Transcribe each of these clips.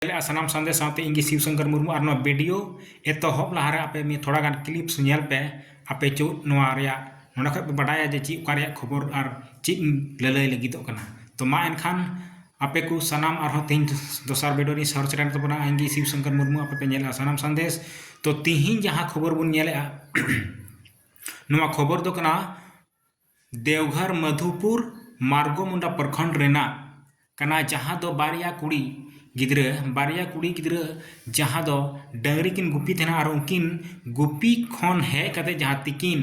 ᱫᱟᱲᱮᱭᱟᱜᱼᱟ ᱥᱟᱱᱟᱢ ᱥᱟᱸᱫᱮᱥ ᱥᱟᱶᱛᱮ ᱤᱧ ᱜᱮ ᱥᱤᱵ ᱥᱚᱝᱠᱚᱨ ᱢᱩᱨᱢᱩ ᱟᱨ ᱱᱚᱣᱟ ᱵᱷᱤᱰᱤᱭᱳ ᱮᱛᱚᱦᱚᱵ ᱞᱟᱦᱟᱨᱮ ᱟᱯᱮ ᱢᱤᱫ ᱛᱷᱚᱲᱟ ᱜᱟᱱ ᱠᱞᱤᱯᱥ ᱧᱮᱞ ᱯᱮ ᱟᱯᱮ ᱪᱚ ᱱᱚᱣᱟ ᱨᱮᱭᱟᱜ ᱱᱚᱰᱮ ᱠᱷᱚᱱ ᱯᱮ ᱵᱟᱰᱟᱭᱟ ᱡᱮ ᱪᱮᱫ ᱚᱠᱟ ᱨᱮᱭᱟᱜ ᱠᱷᱚᱵᱚᱨ ᱟᱨ ᱪᱮᱫ ᱤᱧ ᱞᱟᱹᱞᱟᱹᱭ ᱞᱟᱹᱜᱤᱫᱚᱜ ᱠᱟᱱᱟ ᱛᱚ ᱢᱟ ᱮᱱᱠᱷᱟᱱ ᱟᱯᱮ ᱠᱚ ᱥᱟᱱᱟᱢ ᱟᱨᱦᱚᱸ ᱛᱮᱦᱮᱧ ᱫᱚᱥᱟᱨ ᱵᱷᱤᱰᱤᱭᱳ ᱨᱤᱧ ᱥᱚᱦᱚᱨ ᱥᱮᱴᱮᱨᱮᱱ ᱛᱟᱵᱚᱱᱟ ᱤᱧ ᱜᱮ ᱥᱤᱵ ᱥᱚᱝᱠᱚᱨ ᱢᱩᱨᱢᱩ ᱟᱯᱮ ᱯᱮ ᱧᱮᱞᱮᱫᱼᱟ ᱥᱟᱱᱟᱢ ᱥᱟᱸᱫᱮᱥ ᱛᱚ ᱛᱮᱦᱮᱧ ᱡᱟᱦᱟᱸ ᱠᱷᱚᱵᱚᱨ ᱵᱚᱱ ᱧᱮᱞᱮᱫᱼᱟ ᱱᱚᱣᱟ ᱠᱷᱚᱵᱚᱨ ᱫᱚ ᱠᱟᱱᱟ ᱫᱮᱣᱜᱷᱚᱨ ᱢᱟᱫᱷᱩᱯᱩᱨ ᱢᱟᱨᱜᱚᱢᱩᱱᱰᱟ ᱯᱨᱚᱠᱷᱚᱸᱰ ᱨᱮᱱᱟᱜ ᱠᱟᱱᱟ ᱡᱟᱦᱟᱸ ᱫᱚ ᱵᱟᱨᱭᱟ ᱠᱩᱲᱤ ᱜᱤᱫᱽᱨᱟᱹ ᱵᱟᱨᱭᱟ ᱠᱩᱲᱤ ᱜᱤᱫᱽᱨᱟᱹ ᱡᱟᱦᱟᱸ ᱫᱚ ᱰᱟᱹᱝᱨᱤ ᱠᱤᱱ ᱜᱩᱯᱤ ᱛᱟᱦᱮᱱᱟ ᱟᱨ ᱩᱱᱠᱤᱱ ᱜᱩᱯᱤ ᱠᱷᱚᱱ ᱦᱮᱡ ᱠᱟᱛᱮ ᱡᱟᱦᱟᱸ ᱛᱤᱠᱤᱱ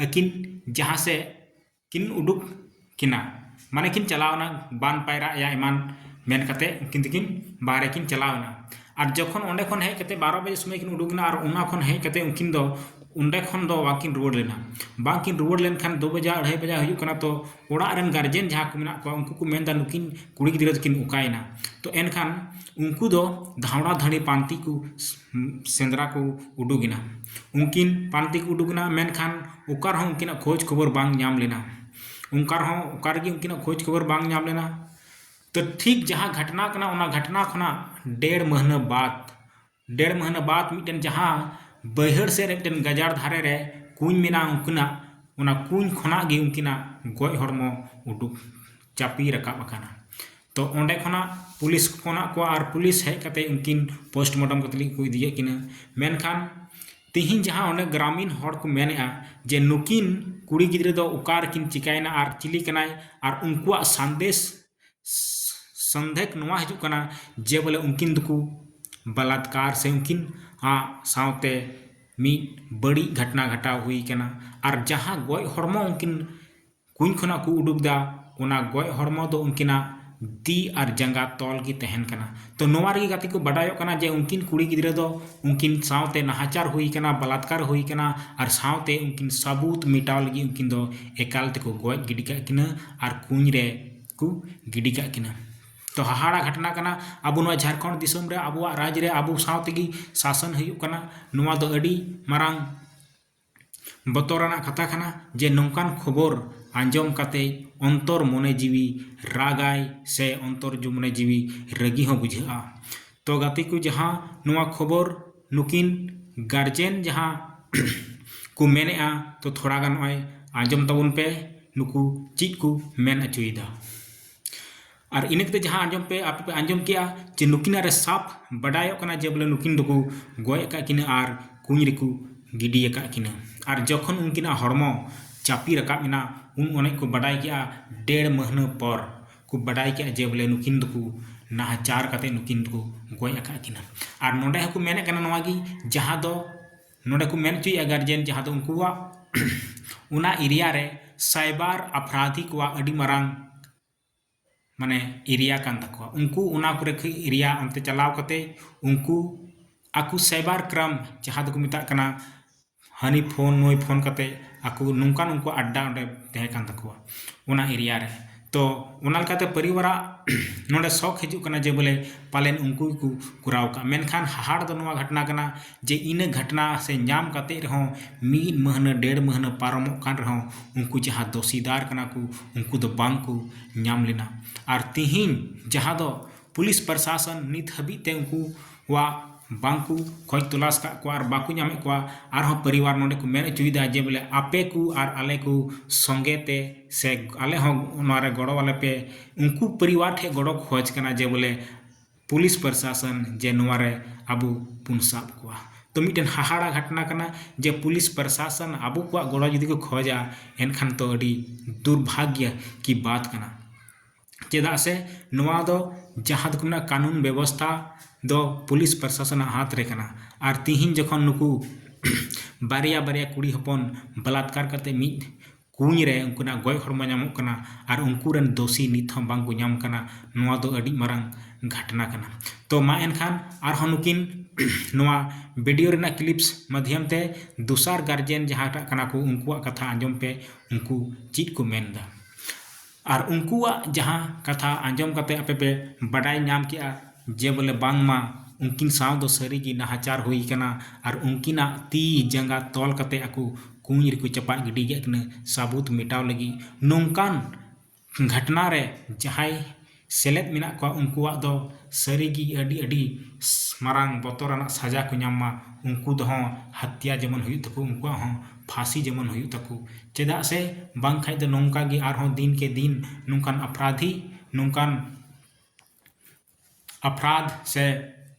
ᱟᱹᱠᱤᱱ ᱡᱟᱦᱟᱸ ᱥᱮᱫ ᱠᱤᱱ ᱩᱰᱩᱠ ᱠᱤᱱᱟ ᱢᱟᱱᱮ ᱠᱤᱱ ᱪᱟᱞᱟᱣᱱᱟ ᱵᱟᱱ ᱯᱟᱭᱨᱟᱜ ᱭᱟ ᱮᱢᱟᱱ ᱢᱮᱱ ᱠᱟᱛᱮ ᱩᱱᱠᱤᱱ ᱫᱚᱠᱤᱱ ᱵᱟᱦᱨᱮ ᱠᱤᱱ ᱪᱟᱞᱟᱣᱱᱟ ᱟᱨ ᱡᱚᱠᱷᱚᱱ ᱚᱸᱰᱮ ᱠᱷᱚᱱ ᱦᱮᱡ ᱠᱟᱛᱮᱫ ᱵᱟᱨᱚ ᱵᱟᱡᱮ ᱥᱚᱢᱚᱭ ᱠᱤᱱ ᱩᱰᱩᱠᱮᱱᱟ ᱟᱨ ᱚᱱᱟ ᱠᱷᱚᱱ ᱦᱮᱡ ᱠᱟᱛᱮᱫ ᱩᱱᱠᱤᱱ ᱫᱚ ᱚᱸᱰᱮ ᱠᱷᱚᱱ ᱫᱚ ᱵᱟᱝᱠᱤᱱ ᱨᱩᱣᱟᱹᱲ ᱞᱮᱱᱟ ᱵᱟᱝᱠᱤᱱ ᱨᱩᱣᱟᱹᱲ ᱞᱮᱱᱠᱷᱟᱱ ᱫᱩ ᱵᱟᱡᱟᱜ ᱟᱹᱲᱟᱹᱭ ᱵᱟᱡᱟᱜ ᱦᱩᱭᱩᱜ ᱠᱟᱱᱟ ᱛᱚ ᱚᱲᱟᱜ ᱨᱮᱱ ᱜᱟᱨᱡᱮᱱ ᱡᱟᱦᱟᱸ ᱠᱚ ᱢᱮᱱᱟᱜ ᱠᱚᱣᱟ ᱩᱱᱠᱩ ᱠᱚ ᱢᱮᱱᱫᱟ ᱱᱩᱠᱤᱱ ᱠᱩᱲᱤ ᱜᱤᱫᱽᱨᱟᱹ ᱫᱚᱠᱤᱱ ᱚᱠᱟᱭᱮᱱᱟ ᱛᱚ ᱮᱱᱠᱷᱟᱱ ᱩᱱᱠᱩ ᱫᱚ ᱫᱷᱟᱣᱲᱟ ᱫᱷᱟᱹᱲᱤ ᱯᱟᱱᱛᱮ ᱠᱚ ᱥᱮᱸᱫᱽᱨᱟ ᱠᱚ ᱩᱰᱩᱠᱮᱱᱟ ᱩᱱᱠᱤᱱ ᱯᱟᱱᱛᱮ ᱠᱚ ᱩᱰᱩᱠᱮᱱᱟ ᱢᱮᱱᱠᱷᱟᱱ ᱚᱠᱟ ᱨᱮᱦᱚᱸ ᱩᱱᱠᱤᱱᱟᱜ ᱠᱷᱚᱡᱽ ᱠᱷᱚᱵᱚᱨ ᱵᱟᱝ ᱧᱟᱢ ᱞᱮᱱᱟ ᱚᱱᱠᱟ ᱨᱮᱦᱚᱸ ᱚᱠᱟ ᱨᱮᱜᱮ ᱩᱱᱠᱤᱱᱟᱜ ᱠᱷᱚᱡᱽ ᱠᱷᱚᱵᱚᱨ ᱵᱟᱝ ᱧᱟᱢ ᱞᱮᱱᱟ ᱛᱚ ᱴᱷᱤᱠ ᱡᱟᱦᱟᱸ ᱜᱷᱟᱴᱱᱟ ᱠᱟᱱᱟ ᱚᱱᱟ ᱜᱷᱟᱴᱱᱟ ᱠᱷᱚᱱᱟᱜ ᱰᱮᱲ ᱢᱟᱹᱦᱱᱟᱹ ᱵᱟᱫᱽ ᱰᱮᱲ ᱢᱟᱹᱦᱱᱟᱹ ᱵᱟᱫᱽ ᱢᱤᱫᱴᱮᱱ ᱡᱟᱦᱟᱸ ᱵᱟᱹᱭᱦᱟᱹᱲ ᱥᱮᱫ ᱨᱮ ᱢᱤᱫᱴᱮᱱ ᱜᱟᱡᱟᱲ ᱫᱷᱟᱨᱮ ᱨᱮ ᱠᱩᱧ ᱢᱮᱱᱟᱜᱼᱟ ᱩᱱᱠᱤᱱᱟᱜ ᱚᱱᱟ ᱠᱩᱧ ᱠᱷᱚᱱᱟᱜ ᱜᱮ ᱩᱱᱠᱤᱱᱟᱜ ᱜᱚᱡ ᱦᱚᱲᱢᱚ ᱩᱰᱩᱠ ᱪᱟᱯᱮ ᱨᱟᱠᱟᱵ ᱟᱠᱟᱱᱟ ᱛᱚ ᱚᱸᱰᱮ ᱠᱷᱚᱱᱟᱜ ᱯᱩᱞᱤᱥ ᱠᱚ ᱯᱷᱳᱱᱟᱫ ᱠᱚᱣᱟ ᱟᱨ ᱯᱩᱞᱤᱥ ᱦᱮᱡ ᱠᱟᱛᱮᱫ ᱩᱱᱠᱤᱱ ᱯᱳᱥᱴᱢᱚᱨᱴᱮᱢ ᱠᱟᱛᱮᱫ ᱠᱚ ᱤᱫᱤ ᱠᱮᱫ ᱠᱤᱱᱟᱹ ᱢᱮᱱᱠᱷᱟᱱ ᱛᱤᱦᱤᱧ ᱡᱟᱦᱟᱸ ᱚᱱᱮ ᱜᱨᱟᱢᱤᱱ ᱦᱚᱲ ᱠᱚ ᱢᱮᱱᱮᱫᱼᱟ ᱡᱮ ᱱᱩᱠᱤᱱ ᱠᱩᱲᱤ ᱜᱤᱫᱽᱨᱟᱹ ᱫᱚ ᱚᱠᱟ ᱨᱮᱠᱤᱱ ᱪᱤᱠᱟᱹᱭᱮᱱᱟ ᱟᱨ ᱪᱤᱞᱤ ᱠᱟᱱᱟᱭ ᱟᱨ ᱩᱱᱠᱩᱣᱟᱜ ᱥᱟᱸᱫᱮᱥ ᱥᱚᱱᱫᱷᱮᱠ ᱱᱚᱣᱟ ᱦᱤᱡᱩᱜ ᱠᱟᱱᱟ ᱡᱮ ᱵᱚᱞᱮ ᱩᱱᱠᱤᱱ ᱫᱚᱠᱚ ᱵᱟᱞᱟᱛᱠᱟᱨ ᱥᱮ ᱩᱱᱠᱤᱱ ᱟᱜ ᱥᱟᱶᱛᱮ ᱢᱤᱫ ᱵᱟᱹᱲᱤᱡ ᱜᱷᱚᱴᱚᱱᱟ ᱜᱷᱚᱴᱟᱣ ᱦᱩᱭ ᱟᱠᱟᱱᱟ ᱟᱨ ᱡᱟᱦᱟᱸ ᱜᱚᱡ ᱦᱚᱲᱢᱚ ᱩᱱᱠᱤᱱ ᱠᱩᱧ ᱠᱷᱚᱱᱟᱜ ᱠᱚ ᱩᱰᱩᱠ ᱮᱫᱟ ᱚᱱᱟ ᱜᱚᱡ ᱦᱚᱲᱢᱚ ᱫᱚ ᱩᱱᱠᱤᱱᱟᱜ ᱛᱤ ᱟᱨ ᱡᱟᱸᱜᱟ ᱛᱚᱞ ᱜᱮ ᱛᱟᱦᱮᱱ ᱠᱟᱱᱟ ᱛᱚ ᱱᱚᱣᱟ ᱨᱮᱜᱮ ᱜᱟᱛᱮ ᱠᱚ ᱵᱟᱰᱟᱭᱚᱜ ᱠᱟᱱᱟ ᱡᱮ ᱩᱱᱠᱤᱱ ᱠᱩᱲᱤ ᱜᱤᱫᱽᱨᱟᱹ ᱫᱚ ᱩᱱᱠᱤᱱ ᱥᱟᱶᱛᱮ ᱱᱟᱦᱟᱪᱟᱨ ᱦᱩᱭ ᱟᱠᱟᱱᱟ ᱵᱟᱞᱟᱛᱠᱟᱨ ᱦᱩᱭ ᱟᱠᱟᱱᱟ ᱟᱨ ᱥᱟᱶᱛᱮ ᱩᱱᱠᱤᱱ ᱥᱟᱹᱵᱩᱛ ᱢᱮᱴᱟᱣ ᱞᱟᱹᱜᱤᱫ ᱩᱱᱠᱤᱱ ᱫᱚ ᱮᱠᱟᱞ ᱛᱮᱠᱚ ᱜᱚᱡ ᱜᱤᱰᱤ ᱠᱟᱜ ᱠᱤᱱᱟᱹ ᱟᱨ ᱠᱩᱧ ᱨᱮ ᱠᱚ ᱜᱤᱰᱤ ᱠᱟᱜ ᱠᱤᱱᱟᱹ ᱛᱚ ᱦᱟᱦᱟᱲᱟ ᱜᱷᱚᱴᱚᱱᱟ ᱠᱟᱱᱟ ᱟᱵᱚ ᱱᱚᱣᱟ ᱡᱷᱟᱲᱠᱷᱚᱸᱰ ᱫᱤᱥᱚᱢ ᱨᱮ ᱟᱵᱚᱣᱟᱜ ᱨᱟᱡᱽ ᱨᱮ ᱟᱵᱚ ᱥᱟᱶ ᱛᱮᱜᱮ ᱥᱟᱥᱚᱱ ᱦᱩᱭᱩᱜ ᱠᱟᱱᱟ ᱱᱚᱣᱟ ᱫᱚ ᱟᱹᱰᱤ ᱢᱟᱨᱟᱝ ᱵᱚᱛᱚᱨᱟᱱᱟᱜ ᱠᱟᱛᱷᱟ ᱠᱟᱱᱟ ᱡᱮ ᱱᱚᱝᱠᱟᱱ ᱠᱷᱚᱵᱚᱨ ᱟᱸᱡᱚᱢ ᱠᱟᱛᱮ ᱚᱱᱛᱚᱨ ᱢᱚᱱᱮ ᱡᱤᱣᱤ ᱨᱟᱜᱟᱭ ᱥᱮ ᱚᱱᱛᱚᱨ ᱢᱚᱱᱮ ᱡᱤᱣᱤ ᱨᱟᱹᱜᱤ ᱦᱚᱸ ᱵᱩᱡᱷᱟᱹᱜᱼᱟ ᱛᱚ ᱜᱟᱛᱮ ᱠᱚ ᱡᱟᱦᱟᱸ ᱱᱚᱣᱟ ᱠᱷᱚᱵᱚᱨ ᱱᱩᱠᱤᱱ ᱜᱟᱨᱡᱮᱱ ᱡᱟᱦᱟᱸ ᱠᱚ ᱢᱮᱱᱮᱫᱼᱟ ᱛᱚ ᱛᱷᱚᱲᱟ ᱜᱟᱱ ᱱᱚᱜᱼᱚᱭ ᱟᱸᱡᱚᱢ ᱛᱟᱵᱚᱱ ᱯᱮ ᱱᱩᱠᱩ ᱪᱮᱫ ᱠᱚ ᱢᱮᱱ ᱦᱚᱪᱚᱭᱮᱫᱟ ᱟᱨ ᱤᱱᱟᱹ ᱠᱟᱛᱮ ᱡᱟᱦᱟᱸ ᱟᱸᱡᱚᱢ ᱯᱮ ᱟᱯᱮ ᱯᱮ ᱟᱸᱡᱚᱢ ᱠᱮᱜᱼᱟ ᱡᱮ ᱱᱩᱠᱤᱱᱟᱜ ᱨᱮ ᱥᱟᱵ ᱵᱟᱰᱟᱭᱚᱜ ᱠᱟᱱᱟ ᱡᱮ ᱵᱚᱞᱮ ᱱᱩᱠᱤᱱ ᱫᱚᱠᱚ ᱜᱚᱡ ᱟᱠᱟᱫ ᱠᱤᱱᱟᱹ ᱟᱨ ᱠᱩᱧ ᱨᱮᱠᱚ ᱜᱤᱰᱤ ᱟᱠᱟᱫ ᱠᱤᱱᱟᱹ ᱟᱨ ᱡᱚᱠᱷᱚᱱ ᱩᱱᱠᱤᱱᱟᱜ ᱦᱚᱲᱢᱚ ᱪᱟᱯᱮ ᱨᱟᱠᱟᱵ ᱮᱱᱟ ᱩᱱ ᱚᱱᱮᱡ ᱠᱚ ᱵᱟᱰᱟᱭ ᱠᱮᱜᱼᱟ ᱰᱮᱲ ᱢᱟᱹᱦᱱᱟᱹ ᱯᱚᱨ ᱠᱚ ᱵᱟᱰᱟᱭ ᱠᱮᱜᱼᱟ ᱡᱮ ᱵᱚᱞᱮ ᱱᱩᱠᱤᱱ ᱫᱚᱠᱚ ᱱᱟᱦᱟᱪᱟᱨ ᱠᱟᱛᱮ ᱱᱩᱠᱤᱱ ᱫᱚᱠᱚ ᱜᱚᱡ ᱟᱠᱟᱫ ᱠᱤᱱᱟᱹ ᱟᱨ ᱱᱚᱰᱮ ᱦᱚᱸᱠᱚ ᱢᱮᱱᱮᱫ ᱠᱟᱱᱟ ᱱᱚᱣᱟ ᱜᱮ ᱡᱟᱦᱟᱸ ᱫᱚ ᱱᱚᱰᱮ ᱠᱚ ᱢᱮᱱ ᱦᱚᱪᱚᱭᱮᱜᱼᱟ ᱜᱟᱨᱡᱮᱱ ᱡᱟᱦᱟᱸ ᱫᱚ ᱩᱱᱠᱩᱣᱟᱜ ᱚᱱᱟ ᱮᱨᱤᱭᱟ ᱨᱮ ᱥᱟᱭᱵᱟᱨ ᱟᱯᱨᱟᱫᱷᱤ ᱠᱚᱣᱟᱜ ᱟᱹᱰᱤ ᱢᱟᱨᱟᱝ ᱢᱟᱱᱮ ᱮᱨᱤᱭᱟ ᱠᱟᱱ ᱛᱟᱠᱚᱣᱟ ᱩᱱᱠᱩ ᱚᱱᱟ ᱠᱚᱨᱮ ᱠᱷᱚᱱ ᱮᱨᱤᱭᱟ ᱚᱱᱛᱮ ᱪᱟᱞᱟᱣ ᱠᱟᱛᱮ ᱩᱱᱠᱩ ᱟᱠᱚ ᱥᱟᱭᱵᱟᱨ ᱠᱨᱟᱭᱤᱢ ᱡᱟᱦᱟᱸ ᱫᱚᱠᱚ ᱢᱮᱛᱟᱜ ᱠᱟᱱᱟ ᱦᱟᱹᱱᱤ ᱯᱷᱳᱱ ᱱᱩᱭ ᱯᱷᱳᱱ ᱠᱟᱛᱮ ᱟᱠᱚ ᱱᱚᱝᱠᱟ ᱱᱚᱝᱠᱟ ᱟᱰᱰᱟ ᱚᱸᱰᱮ ᱛᱟᱦᱮᱸ ᱠᱟᱱ ᱛᱟᱠᱚᱣᱟ ᱚᱱᱟ ᱮᱨᱤᱭᱟ ᱨᱮ ᱛᱚ ᱚᱱᱟ ᱞᱮᱠᱟᱛᱮ ᱯᱚᱨᱤᱵᱟᱨᱟᱜ ᱱᱚᱰᱮ ᱥᱚᱠ ᱦᱤᱡᱩᱜ ᱠᱟᱱᱟ ᱡᱮ ᱵᱚᱞᱮ ᱯᱟᱞᱮᱱ ᱩᱱᱠᱩ ᱜᱮᱠᱚ ᱠᱚᱨᱟᱣ ᱠᱟᱜ ᱢᱮᱱᱠᱷᱟᱱ ᱦᱟᱦᱟᱲ ᱫᱚ ᱱᱚᱣᱟ ᱜᱷᱚᱴᱚᱱᱟ ᱠᱟᱱᱟ ᱡᱮ ᱤᱱᱟᱹ ᱜᱷᱚᱴᱚᱱᱟ ᱥᱮ ᱧᱟᱢ ᱠᱟᱛᱮ ᱨᱮᱦᱚᱸ ᱢᱤᱫ ᱢᱟᱹᱦᱱᱟᱹ ᱰᱮᱲ ᱢᱟᱹᱦᱱᱟᱹ ᱯᱟᱨᱚᱢᱚᱜ ᱠᱟᱱ ᱨᱮᱦᱚᱸ ᱩᱱᱠᱩ ᱡᱟᱦᱟᱸ ᱫᱩᱥᱤᱫᱟᱨ ᱠᱟᱱᱟ ᱠᱚ ᱩᱱᱠᱩ ᱫᱚ ᱵᱟᱝ ᱠᱚ ᱧᱟᱢ ᱞᱮᱱᱟ ᱟᱨ ᱛᱮᱦᱮᱧ ᱡᱟᱦᱟᱸ ᱫᱚ ᱯᱩᱞᱤᱥ ᱯᱨᱚᱥᱟᱥᱚᱱ ᱱᱤᱛ ᱦᱟᱹᱵᱤᱡ ᱛᱮ ᱩᱱᱠᱩ ᱠᱚᱣᱟᱜ ᱵᱟᱝ ᱠᱚ ᱠᱷᱚᱡᱽ ᱛᱚᱞᱟᱥ ᱟᱠᱟᱫ ᱠᱚᱣᱟ ᱟᱨ ᱵᱟᱠᱚ ᱧᱟᱢᱮᱫ ᱠᱚᱣᱟ ᱟᱨᱦᱚᱸ ᱯᱚᱨᱤᱵᱟᱨ ᱱᱚᱰᱮ ᱠᱚ ᱢᱮᱱ ᱦᱚᱪᱚᱭᱮᱫᱟ ᱡᱮ ᱵᱚᱞᱮ ᱟᱯᱮ ᱠᱚ ᱟᱨ ᱟᱞᱮ ᱠᱚ ᱥᱚᱸᱜᱮ ᱛᱮ ᱥᱮ ᱟᱞᱮ ᱦᱚᱸ ᱱᱚᱣᱟ ᱨᱮ ᱜᱚᱲᱚ ᱟᱞᱮ ᱯᱮ ᱩᱱᱠᱩ ᱯᱚᱨᱤᱵᱟᱨ ᱴᱷᱮᱱ ᱜᱚᱲᱚ ᱠᱷᱚᱡᱽ ᱠᱟᱱᱟ ᱡᱮ ᱵᱚᱞᱮ ᱯᱩᱞᱤᱥ ᱯᱨᱚᱥᱟᱥᱚᱱ ᱡᱮ ᱱᱚᱣᱟ ᱨᱮ ᱟᱵᱚ ᱵᱚᱱ ᱥᱟᱵ ᱠᱚᱣᱟ ᱛᱚ ᱢᱤᱫᱴᱮᱱ ᱦᱟᱦᱟᱲᱟ ᱜᱷᱚᱴᱚᱱᱟ ᱠᱟᱱᱟ ᱡᱮ ᱯᱩᱞᱤᱥ ᱯᱨᱚᱥᱟᱥᱚᱱ ᱟᱵᱚ ᱠᱚᱣᱟᱜ ᱜᱚᱲᱚ ᱡᱩᱫᱤ ᱠᱚ ᱠᱷᱚᱡᱟ ᱮᱱᱠᱷᱟᱱ ᱛᱚ ᱟᱹᱰᱤ ᱫᱩᱨᱵᱷᱟᱜᱽᱜᱚ ᱠᱤ ᱵᱟᱛ ᱠᱟᱱᱟ ᱪᱮᱫᱟᱜ ᱥᱮ ᱱᱚᱣᱟ ᱫᱚ ᱡᱟᱦᱟᱸ ᱫᱚᱠᱚ ᱢᱮᱱᱟ ᱠᱟᱹᱱᱩᱱ ᱵᱮᱵᱚᱥᱛᱟ ᱫᱚ ᱯᱩᱞᱤᱥ ᱯᱨᱚᱥᱟᱥᱚᱱᱟᱜ ᱦᱟᱛ ᱨᱮ ᱠᱟᱱᱟ ᱟᱨ ᱛᱤᱦᱤᱧ ᱡᱚᱠᱷᱚᱱ ᱱᱩᱠᱩ ᱵᱟᱨᱭᱟ ᱵᱟᱨᱭᱟ ᱠᱩᱲᱤ ᱦᱚᱯᱚᱱ ᱵᱟᱞᱟᱛᱠᱟᱨ ᱠᱟᱛᱮ ᱢᱤᱫ ᱠᱩᱧ ᱨᱮ ᱩᱱᱠᱤᱱᱟᱜ ᱜᱚᱡ ᱦᱚᱲᱢᱚ ᱧᱟᱢᱚᱜ ᱠᱟᱱᱟ ᱟᱨ ᱩᱱᱠᱩ ᱨᱮᱱ ᱫᱳᱥᱤ ᱱᱤᱛ ᱦᱚᱸ ᱵᱟᱝ ᱠᱚ ᱧᱟᱢ ᱠᱟᱱᱟ ᱱᱚᱣᱟ ᱫᱚ ᱟᱹᱰᱤ ᱢᱟᱨᱟᱝ ᱜᱷᱟᱴᱱᱟ ᱠᱟᱱᱟ ᱛᱚ ᱢᱟ ᱮᱱᱠᱷᱟᱱ ᱟᱨᱦᱚᱸ ᱱᱩᱠᱤᱱ ᱱᱚᱣᱟ ᱵᱷᱤᱰᱤᱭᱳ ᱨᱮᱱᱟᱜ ᱠᱞᱤᱯᱥ ᱢᱟᱫᱽᱫᱷᱚᱢ ᱛᱮ ᱫᱚᱥᱟᱨ ᱜᱟᱨᱡᱮᱱ ᱡᱟᱦᱟᱸᱴᱟᱜ ᱠᱟᱱᱟ ᱠᱚ ᱩᱱᱠᱩᱣᱟᱜ ᱠᱟᱛᱷᱟ ᱟᱸᱡᱚᱢ ᱯᱮ ᱩᱱᱠᱩ ᱪᱮᱫ ᱠᱚ ᱢᱮᱱᱫᱟ ᱟᱨ ᱩᱱᱠᱩᱣᱟᱜ ᱡᱟᱦᱟᱸ ᱠᱟᱛᱷᱟ ᱟᱸᱡᱚᱢ ᱠᱟᱛᱮ ᱟᱯᱮ ᱯᱮ ᱵᱟᱰᱟᱭ ᱧᱟᱢ ᱠᱮᱫᱼᱟ ᱡᱮ ᱵᱚᱞᱮ ᱵᱟᱝ ᱢᱟ ᱩᱱᱠᱤᱱ ᱥᱟᱶ ᱫᱚ ᱥᱟᱹᱨᱤ ᱜᱮ ᱱᱟᱦᱟᱪᱟᱨ ᱦᱩᱭ ᱟᱠᱟᱱᱟ ᱟᱨ ᱩᱱᱠᱤᱱᱟᱜ ᱛᱤ ᱡᱟᱸᱜᱟ ᱛᱚᱞ ᱠᱟᱛᱮ ᱟᱠᱚ ᱠᱩᱸᱧ ᱨᱮᱠᱚ ᱪᱟᱯᱟᱫ ᱜᱤᱰᱤ ᱠᱮᱫ ᱠᱤᱱᱟᱹ ᱥᱟᱹᱵᱩᱛ ᱢᱮᱴᱟᱣ ᱞᱟᱹᱜᱤᱫ ᱱᱚᱝᱠᱟᱱ ᱜᱷᱟᱴᱱᱟ ᱨᱮ ᱡᱟᱦᱟᱸᱭ ᱥᱮᱞᱮᱫ ᱢᱮᱱᱟᱜ ᱠᱚᱣᱟ ᱩᱱᱠᱩᱣᱟᱜ ᱫᱚ ᱥᱟᱹᱨᱤ ᱜᱮ ᱟᱹᱰᱤ ᱟᱹᱰᱤ ᱢᱟᱨᱟᱝ ᱵᱚᱛᱚᱨᱟᱱᱟᱜ ᱥᱟᱡᱟ ᱠᱚ ᱧᱟᱢ ᱢᱟ ᱩᱱᱠᱩ ᱫᱚ ᱦᱚᱸ ᱦᱟᱛᱭᱟ ᱡᱮᱢᱚᱱ ᱦᱩᱭᱩᱜ ᱛᱟᱠᱚ ᱩᱱᱠᱩᱣᱟᱜ ᱦᱚᱸ ᱯᱷᱟᱸᱥᱤ ᱡᱮᱢᱚᱱ ᱦᱩᱭᱩᱜ ᱛᱟᱠᱚ ᱪᱮᱫᱟᱜ ᱥᱮ ᱵᱟᱝᱠᱷᱟᱱ ᱫᱚ ᱱᱚᱝᱠᱟ ᱜᱮ ᱟᱨᱦᱚᱸ ᱫᱤᱱ ᱠᱮ ᱫᱤᱱ ᱱᱚᱝᱠᱟᱱ ᱟᱯᱨᱟᱫᱷᱤ ᱱᱚᱝᱠᱟᱱ ᱟᱯᱨᱟᱫᱷ ᱥᱮ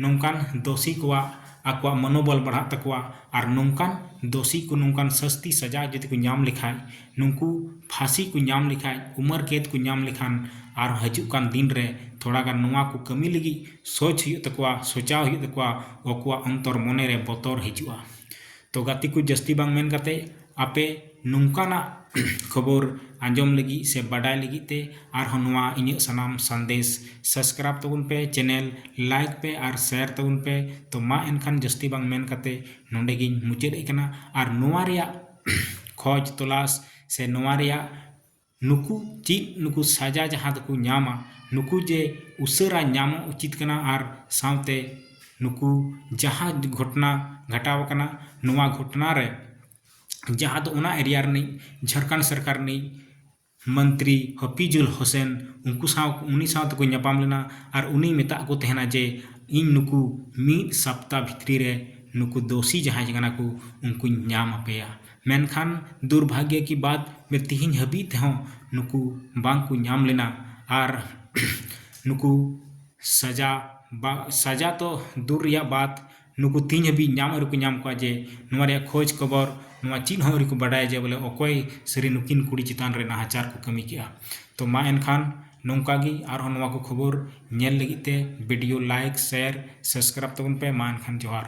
ᱱᱚᱝᱠᱟᱱ ᱫᱩᱥᱤ ᱠᱚᱣᱟᱜ ᱟᱠᱚᱣᱟᱜ ᱢᱚᱱᱳᱵᱚᱞ ᱵᱟᱲᱦᱟᱜ ᱛᱟᱠᱚᱣᱟ ᱟᱨ ᱱᱚᱝᱠᱟᱱ ᱫᱩᱥᱤ ᱠᱚ ᱱᱚᱝᱠᱟᱱ ᱥᱟᱹᱥᱛᱤ ᱥᱟᱡᱟ ᱡᱩᱫᱤ ᱠᱚ ᱧᱟᱢ ᱞᱮᱠᱷᱟᱱ ᱱᱩᱠᱩ ᱯᱷᱟᱸᱥᱤ ᱠᱚ ᱧᱟᱢ ᱞᱮᱠᱷᱟᱱ ᱩᱢᱟᱹᱨ ᱠᱮᱫ ᱠᱚ ᱧᱟᱢ ᱞᱮᱠᱷᱟᱱ ᱟᱨ ᱦᱤᱡᱩᱜ ᱠᱟᱱ ᱫᱤᱱ ᱨᱮ ᱛᱷᱚᱲᱟ ᱜᱟᱱ ᱱᱚᱣᱟ ᱠᱚ ᱠᱟᱹᱢᱤ ᱞᱟᱹᱜᱤᱫ ᱥᱚᱪ ᱦᱩᱭᱩᱜ ᱛᱟᱠᱚᱣᱟ ᱥᱚᱪᱟᱣ ᱦᱩᱭᱩᱜ ᱛᱟᱠᱚᱣᱟ ᱟᱠᱚᱣᱟᱜ ᱚᱱᱛᱚᱨ ᱢᱚᱱᱮ ᱨᱮ ᱵᱚᱛᱚᱨ ᱦᱤᱡᱩᱜᱼᱟ ᱛᱚ ᱜᱟᱛᱮ ᱠᱚ ᱡᱟᱹᱥᱛᱤ ᱵᱟᱝ ᱢᱮᱱ ᱠᱟᱛᱮᱫ ᱟᱯᱮ ᱱᱚᱝᱠᱟᱱᱟᱜ ᱠᱷᱚᱵᱚᱨ ᱟᱸᱡᱚᱢ ᱞᱟᱹᱜᱤᱫ ᱥᱮ ᱵᱟᱰᱟᱭ ᱞᱟᱹᱜᱤᱫ ᱛᱮ ᱟᱨᱦᱚᱸ ᱱᱚᱣᱟ ᱤᱧᱟᱹᱜ ᱥᱟᱱᱟᱢ ᱥᱟᱸᱫᱮᱥ ᱥᱟᱵᱥᱠᱨᱟᱭᱤᱵᱽ ᱛᱟᱵᱚᱱ ᱯᱮ ᱪᱮᱱᱮᱞ ᱞᱟᱭᱤᱠ ᱯᱮ ᱟᱨ ᱥᱮᱭᱟᱨ ᱛᱟᱵᱚᱱ ᱯᱮ ᱛᱚ ᱢᱟ ᱮᱱᱠᱷᱟᱱ ᱡᱟᱹᱥᱛᱤ ᱵᱟᱝ ᱢᱮᱱ ᱠᱟᱛᱮᱫ ᱱᱚᱰᱮ ᱜᱤᱧ ᱢᱩᱪᱟᱹᱫ ᱮᱫ ᱠᱟᱱᱟ ᱟᱨ ᱱᱚᱣᱟ ᱨᱮᱭᱟᱜ ᱠᱷᱚᱡᱽ ᱛᱚᱞᱟᱥ ᱥᱮ ᱱᱚᱣᱟ ᱨᱮᱭᱟᱜ ᱱᱩᱠᱩ ᱪᱮᱫ ᱱᱩᱠᱩ ᱥᱟᱡᱟ ᱡᱟᱦᱟᱸ ᱫᱚᱠᱚ ᱧᱟᱢᱟ ᱱᱩᱠᱩ ᱡᱮ ᱩᱥᱟᱹᱨᱟ ᱧᱟᱢᱚᱜ ᱩᱪᱤᱛ ᱠᱟᱱᱟ ᱟᱨ ᱥᱟᱶᱛᱮ ᱱᱩᱠᱩ ᱡᱟᱦᱟᱸ ᱜᱷᱚᱴᱚᱱᱟ ᱜᱷᱚᱴᱟᱣ ᱟᱠᱟᱱᱟ ᱱᱚᱣᱟ ᱜᱷᱚᱴᱚᱱᱟ ᱨᱮ ᱡᱟᱦᱟᱸ ᱫᱚ ᱚᱱᱟ ᱮᱨᱤᱭᱟ ᱨᱤᱱᱤᱡ ᱡᱷᱟᱲᱠᱷᱚᱸᱰ ᱥᱚᱨᱠᱟᱨ ᱨᱤᱱᱤᱡ ᱢᱚᱱᱛᱨᱤ ᱦᱟᱹᱯᱤᱡᱩᱞ ᱦᱩᱥᱮᱱ ᱩᱱᱠᱩ ᱥᱟᱶ ᱩᱱᱤ ᱥᱟᱶ ᱛᱮᱠᱚ ᱧᱟᱯᱟᱢ ᱞᱮᱱᱟ ᱟᱨ ᱩᱱᱤᱭ ᱢᱮᱛᱟᱫ ᱠᱚ ᱛᱟᱦᱮᱱᱟ ᱡᱮ ᱤᱧ ᱱᱩᱠᱩ ᱢᱤᱫ ᱥᱚᱯᱛᱟ ᱵᱷᱤᱛᱨᱤ ᱨᱮ ᱱᱩᱠᱩ ᱫᱳᱥᱤ ᱡᱟᱦᱟᱸᱭ ᱠᱟᱱᱟ ᱠᱚ ᱩᱱᱠᱩᱧ ᱧᱟᱢ ᱟᱯᱮᱭᱟ ᱢᱮᱱᱠᱷᱟᱱ ᱫᱩᱨᱵᱷᱟᱜᱭᱚ ᱠᱤ ᱵᱟᱛ ᱡᱮ ᱛᱤᱦᱤᱧ ᱦᱟᱹᱵᱤᱡ ᱛᱮᱦᱚᱸ ᱱᱩᱠᱩ ᱵᱟᱝ ᱠᱚ ᱧᱟᱢ ᱞᱮᱱᱟ ᱟᱨ ᱱᱩᱠᱩ ᱥᱟᱡᱟ ᱵᱟ ᱥᱟᱡᱟ ᱛᱚ ᱫᱩᱨ ᱨᱮᱭᱟᱜ ᱵᱟᱛ ᱱᱩᱠᱩ ᱛᱤᱦᱤᱧ ᱦᱟᱹᱵᱤᱡ ᱧᱟᱢ ᱦᱚᱸ ᱟᱹᱣᱨᱤ ᱠᱚ ᱧᱟᱢ ᱠᱚᱣᱟ ᱡᱮ ᱱᱚᱣᱟ ᱨᱮᱭᱟᱜ ᱠᱷᱚᱡᱽ ᱠᱷᱚᱵᱚᱨ ᱱᱚᱣᱟ ᱪᱮᱫ ᱦᱚᱸ ᱟᱹᱣᱨᱤ ᱠᱚ ᱵᱟᱰᱟᱭᱟ ᱡᱮ ᱵᱚᱞᱮ ᱚᱠᱚᱭ ᱥᱟᱹᱨᱤ ᱱᱩᱠᱤᱱ ᱠᱩᱲᱤ ᱪᱮᱛᱟᱱ ᱨᱮ ᱱᱟᱦᱟᱪᱟᱨ ᱠᱚ ᱠᱟᱹᱢᱤ ᱠᱮᱫᱼᱟ ᱛᱚ ᱢᱟ ᱮᱱᱠᱷᱟᱱ ᱱᱚᱝᱠᱟ ᱜᱮ ᱟᱨᱦᱚᱸ ᱱᱚᱣᱟ ᱠᱚ ᱠᱷᱚᱵᱚᱨ ᱧᱮᱞ ᱞᱟᱹᱜᱤᱫ ᱛᱮ ᱵᱷᱤᱰᱤᱭᱳ ᱞᱟᱭᱤᱠ ᱥᱮᱭᱟᱨ ᱥᱟᱵᱥᱠᱨᱟᱭᱤᱵᱽ ᱛᱟᱵᱚᱱ ᱯᱮ ᱢᱟ ᱮᱱᱠᱷᱟᱱ ᱡᱚᱦᱟᱨ